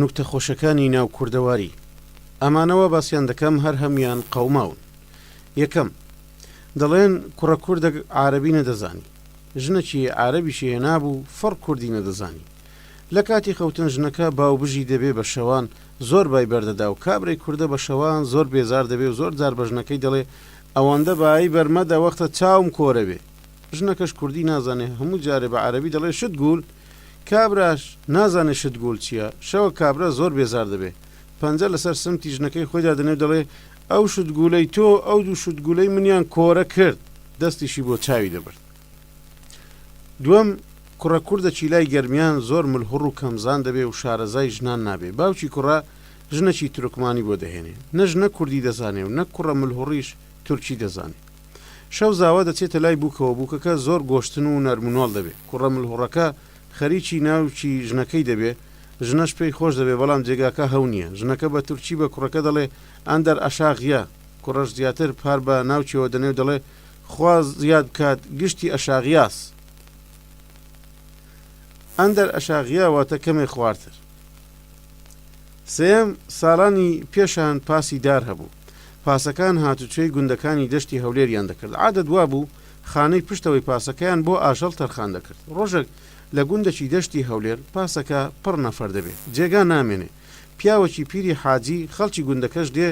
نوکتە خۆشەکانی ناو کوردەواری ئەمانە وا باسیان دەکەم هەر هەمویان قەوماون یەکەم دەڵێن کوڕە کوردەک عارەبی نەدەزانی ژنەکی عارەبیشی هێنابوو فڕ کوردی نەدەزانی لە کاتی خەوتن ژنەکە باو بژی دەبێ بە شەوان زۆر بای بەردەدا و کابرای کوردە بە شەوان زۆر بێزار دەبێ و زۆر جار بە ژنەکەی دەڵێ ئەوەندە بایی بەر مەدە وەختە چاوم کۆرەبێ ژنەکەش کوردی نازانێ هەموو جارێ بە عارەبی دەڵێ شت گول کابراش نازانێ شت گول چیە شەوە کابرا زۆر بێزار دەبێ پەنجە لەسەر سمتی ژنەکەی خۆی دادەنێ و دەڵێ ئەو شت گولەی تۆ ئەو دوو شت گولەی منیان کۆرە کرد دەستیشی بۆ چاوی دەبرد دوەم کوڕە کوردە چیلای گەرمیان زۆر ملهوڕ و کەمزان دەبێ و شارەزای ژنان نابێ باوکی کوڕە ژنەکی تورکمانی بۆ دەهێنێ نە ژنە کوردی دەزانێ و نە کوڕە ملهوڕیش تورکی دەزانێ. شەو زاوا دەچێتە لای بووکەوە، بووکەکە زۆر گۆشتن و نەرمونۆڵ دەبێ، کوڕە ملهوڕەکە خەریکی ناوکی ژنەکەی دەبێ، ژنەش پێی خۆش دەبێ، بەڵام جێگاکە هەو نییە، ژنەکە بە تورکی بە کوڕەکە دەڵێ، ئەندەر ئەشاغ یە، کوڕەش زیاتر پار بە ناوکیەوە دەنێ و دەڵێ، خوا زیاد بکات گشتی ئەشاغیاس. ئەندەر ئەشاغیا واتە کەمێ خوارتر. سێیەم، ساڵانی پێشان پاسی دار هەبوو. پاسەکان هاتوچۆی گوندەکانی دەشتی هەولێریان دەکرد، عادەت وابوو خانەی پشتەوەی پاسەکەیان بۆ ئاژەڵ تەرخان دەکرد، ڕۆژەک لە گوندەکی دەشتی هەولێر پاسەکە پڕ نەفەر دەبێ، جێگا نامێنێ، پیاوەکی پیری حاجی خەڵکی گوندەکەش دێ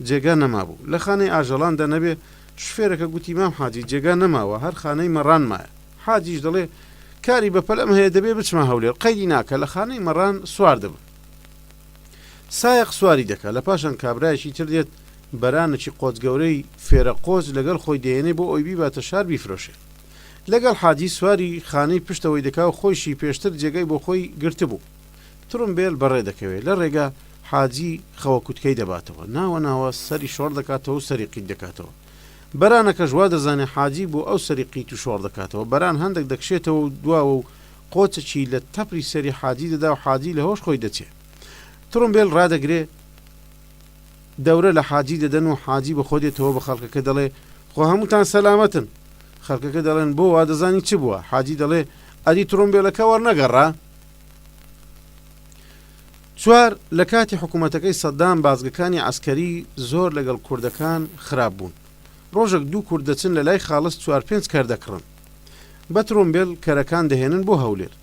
جێگا نەمابوو، لە خانەی ئاژەڵاندا نەبێ، شوفێرەکە گوتی مام حاجی جێگا نەماوە هەر خانەی مەڕان مایە، حاجیش دەڵێ کاری بەپەلەم هەیە دەبێ بچمە هەولێر، قەیری ناکا لە خانەی مەڕان سوار دەبم. سایەق سواری دەکا لە پاشان کابرایەکی تر دێت بەرانەکی قۆت گەورەی فێرە قۆچ لەگەل خۆی دەیەنێ بۆ ئەوی بیباتە شار بیفرۆشێ لەگەل حاجی سواری خانەی پشتەوەی دەکاو خۆیشی پێشتر جێگای بۆ خۆی گرتبوو ترومبێل بەڕێ دەکەوێ لە رێگا حاجی خەوە کوتکەی دەباتەوە ناوە ناوە سەری شۆڕ دەکاتەوەو سەری قیت دەکاتەوە بەرانەکەش وا دەزانێ حاجی بۆ ئەو سەری قیت و شۆڕ دەکاتەوە بەران هەندەک دەکشێتەوەو دواوەو قۆچەکی لە تەپری سەری حاجی دەدا و حاجی لە هۆش خۆی دەچێ. تڕومبێل ڕادەگرێ، دەورە لە حاجی دەدەن و حاجی بە خۆ دێتەوە بە خەڵکەکە دەڵێ، خۆ هەمووتان سەلامەتن. خەڵکەکە دەڵێن، بۆ وا دەزانی چ بووە؟ حاجی دەڵێ، ئەدی تڕومبێلەکە وەڕنەگەڕا؟ چوار، لە کاتی حکوومەتەکەی سەدام بازگەکانی عەسکەری زۆر لەگەڵ کوردەکان خراپ بوون. ڕۆژەک دوو کورد دەچن لە لای خاڵس چوار پێنج کەر دەکڕن. بە ترۆمبێل کەرەکان دەهێنن بۆ هەولێر.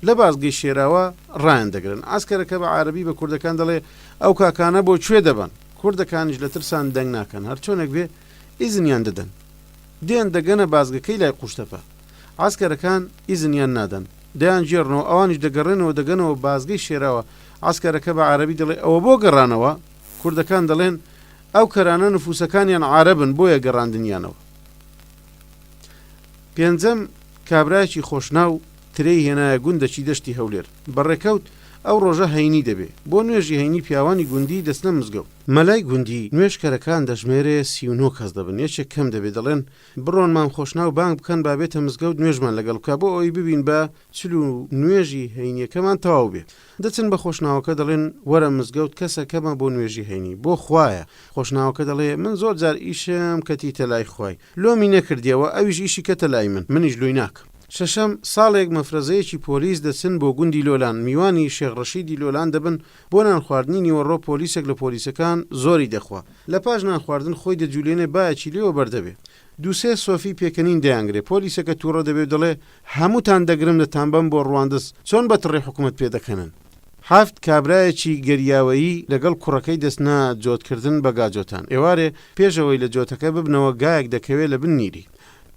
لە بازگەی شێراوە رایاندەگرن. عەسکەرەکە بە عارەبی بە کوردەکان دەڵێ، ئەو کاکانە بۆ کوێ دەبەن؟ کوردەکانیش لە ترسان دەنگ ناکەن، هەرچۆنێک بێ ئیزنیان دەدەن. دێن دەگەنە بازگەکەی لای قوشتەپە. عەسکەرەکان ئیزنیان نادەن. دەیانگێڕنەوە، ئەوانیش دەگەڕێنەوە دەگەنەوە بازگەی شێراوە. عەسکەرەکە بە عارەبی دەڵێ، ئەوە بۆ گەڕانەوە؟ کوردەکان دەڵێن، ئەو کەرانە نفووسەکانیان عارەبن، بۆیە گەڕاندنیانەوە. پێنجەم، کابرایەکی خۆشناو ترێی هێنایە گوندەکی دەشتی هەولێر. بە ڕێکەوت، ئەو ڕۆژە هەینی دەبێ. بۆ نوێژی هەینی پیاوانی گوندی دەچنە مزگەوت. مەلای گوندی نوێژکەرەکان دەژمێرێ سی و نۆ کەس دەبن، یەکێک کەم دەبێ، دەڵێن، بڕۆن مام خۆشناو بانگ بکەن با بێتە مزگەوت نوێژمان لەگەڵ بکا بۆ ئەوەی ببین با چل و نوێژی هەینییەکەمان تەواو بێ. دەچن بە خۆشناوەکە دەڵێن وەرە مزگەوت کەسە کەمە بۆ نوێژی هەینی بۆ خوایە خۆشناوەکە دەڵێ من زۆر جار ئیشم کەتی تە لای خوای لۆمی نەکردیە وە ئەویش ئیشی کەتە لای من منیش لۆی ناکەم. شەشەم ساڵێک مەفرەزەیەکی پۆلیس دەچن بۆ گوندی لۆلان میوانی شێخ ڕەشیدی لۆلان دەبن بۆ نان خواردنی نیوەڕۆ پۆلیسێک لە پۆلیسەکان زۆری دەخوا لە پاش نان خواردن خۆی دەجولێنێ بایەکی لێوە بەر دەبێ دوو سێ سۆفی پێکەنین دەیانگرێ پۆلیسەکە توڕە دەبێ و دەڵێ هەمووتان دەگرم دەتانبەم بۆ ڕواندز چۆن بە تڕی حکومەت پێ دەکەنن. حەفت کابرایەکی گەریاوەیی لەگەڵ کوڕەکەی دەچنە جۆت کردن بە گاجۆتان ئێوارێ پێش ئەوەی لە جۆتەکە ببنەوە گایەک دەکەوێ لە بن نیری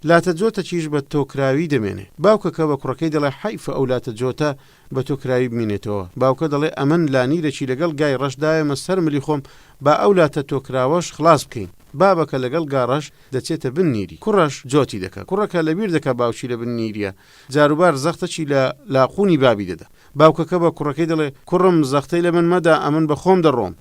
لاتە جۆتەکیش بە تۆکراوی دەمێنێ باوکەکە بە کوڕەکەی دەڵێ حەیف ئەو لاتە جۆتە بە تۆ کراوی بمینێتەوە باوکە دەڵێ ئەمن لانیرەکی لەگەڵ گای ڕەش داوێمە سەر ملی خۆم با ئەو لاتە تۆکراوەش خڵاس بکەین بابەکە لەگەڵ گا ڕەش دەچێتە بن نیری کوڕەش جۆتی دەکا کوڕەکە لەبیر دەکا باوکی لە بن نیریە جاروبار زەختەکی لە لاقوونی بابی دەدا باوکەکە بە کوڕەکەی دەڵێ کوڕم زەختەی لە من مەدە ئەمن بە خۆم دەڕۆم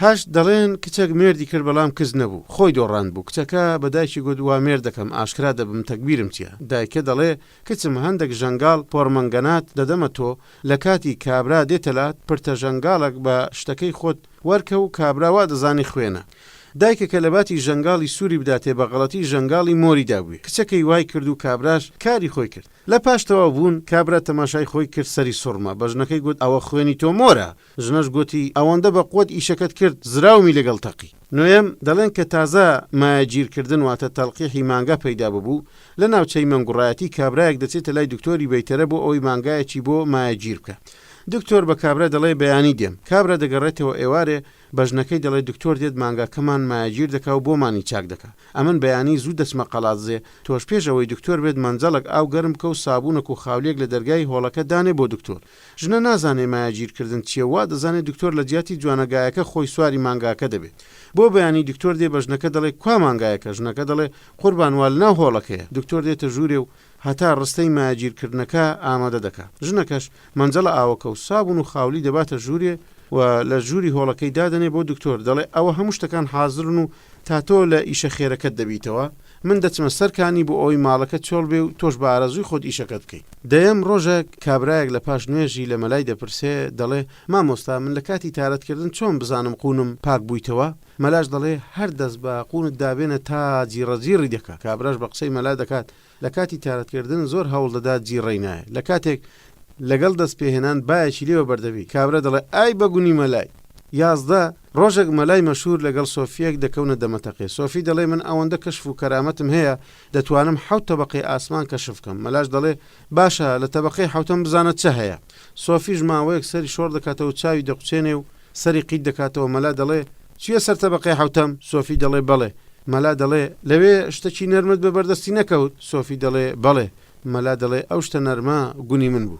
هەشت، دەڵێن کچەک مێردی کرد بەڵام کچ نەبوو خۆی دۆڕاند بوو کچەکە بە دایکی گوت وا مێردەکەم ئاشکرا دەبم تەگبیرم چیە دایکە دەڵێ کچم هەندەک ژەنگاڵ پۆڕمەنگەنات دەدەمە تۆ لە کاتی کابرا دێتە لات پرتە ژەنگاڵەک بە شتەکەی خۆت وەرکە و کابرا وا دەزانی خوێنە دایکەکە لەباتی ژەنگاڵی سوری بداتێ بە غەڵەتی ژەنگاڵی مۆری دابووێ کچەکەی وای کرد و کابراش کاری خۆی کرد لە پاش تەواو بوون کابرا تەماشای خۆی کرد سەری سوڕما بە ژنەکەی گوت ئەوە خوێنی تۆ مۆرە ژنەش گۆتی، ئەوەندە بە قوەت ئیشەکەت کرد زراومی لەگەڵ تەقی. نۆیەم، دەڵێن کە تازە مایەگیر کردن واتە تەڵقیحی مانگا پەیدا ببوو، لە ناوچەی مەنگوڕایەتی کابرایەک دەچێتە لای دکتۆری بەیتەرە بۆ ئەوەی مانگایەکی بۆ مایەگیر بکا. دکتۆر بە کابرا دەڵێ بەیانی دێم. کابرا دەگەڕێتەوە ئێوارێ بە ژنەکەی دەڵێ دکتۆر دێت مانگاکەمان مایەگیر دەکا و بۆمانی چاک دەکا. ئەمن بەیانی زوو دەچمە قەڵادزێ، تۆش پێش ئەوەی دکتۆر بێت مەنجەڵەک ئاو گەرم بکە و سابوونەک و خاولیەک لە دەرگای هۆڵەکە دانێ بۆ دکتۆر. ژنە نازانێ مایە گیر کردن چیە وا دەزانێ دکتۆر لە جیاتی جوانە گایەکە خۆی سواری مانگاکە دەبێ بۆ بەیانی دکتۆر دێ بە ژنەکە دەڵێ کوا مانگایەکە ژنەکە دەڵێ قوربان وا لەناو هۆڵەکەیە دکتۆر دێتە ژوورێ و هەتا ڕستەی مایە گیر کردنەکە ئامادە دەکا ژنەکەش مەنجەڵە ئاوەکە و سابون و خاولی دەباتە ژوورێ و لە ژووری هۆڵەکەی دادەنێ بۆ دکتۆر دەڵێ ئەوە هەموو شتەکان حازرن و تا تۆ لە ئیشە خێرەکەت دەبیتەوە من دەچمە سەر کانی بۆ ئەوەی ماڵەکە چۆڵ بێ و تۆش بە ئارەزووی خۆت ئیشەکەت بکەی. دەیەم ڕۆژەک کابرایەک لە پاش نوێژی لە مەلای دەپرسێ، دەڵێ، مامۆستا من لە کاتی تارەت کردن چۆن بزانم قوونم پاک بوویتەوە؟ مەلاش دەڵێ، هەر دەست بە قوونت دابێنە تا جیڕە جیڕی دەکا. کابراش بە قسەی مەلا دەکات لە کاتی تارەت کردن زۆر هەوڵ دەدات جیڕەی نایە. لە کاتێک لەگەڵ دەست پێهێنان بایەکی لێ وەبەر دەبی. کابرا دەڵێ، ئای بە گونی مەلای! یازدە. ڕۆژێک مەلای مەشهوور لەگەڵ سۆفییەک دەکەونە دەمەتەقێ، سۆفی دەڵێ من ئەوەندە کەشف و کەرامەتم هەیە دەتوانم حەوت تەبەقەی ئاسمان کەشف کەم، مەلاش دەڵێ باشە لە تەبەقەی حەوتەم بزانە چ هەیە؟ سۆفیش ماوەیەک سەری شۆڕ دەکاتەوە چاوی دەقوچێنێ و سەری قیت دەکاتەوە، مەلا دەڵێ چویە سەر تەبەقەی حەوتەم؟ سۆفی دەڵێ بەڵێ، مەلا دەڵێ لەوێ شتەکی نەرمت بە بەردەستی نەکەوت؟ سۆفی دەڵێ بەڵێ، مەلا دەڵێ ئەو شتە نەرمە گونی من بوو.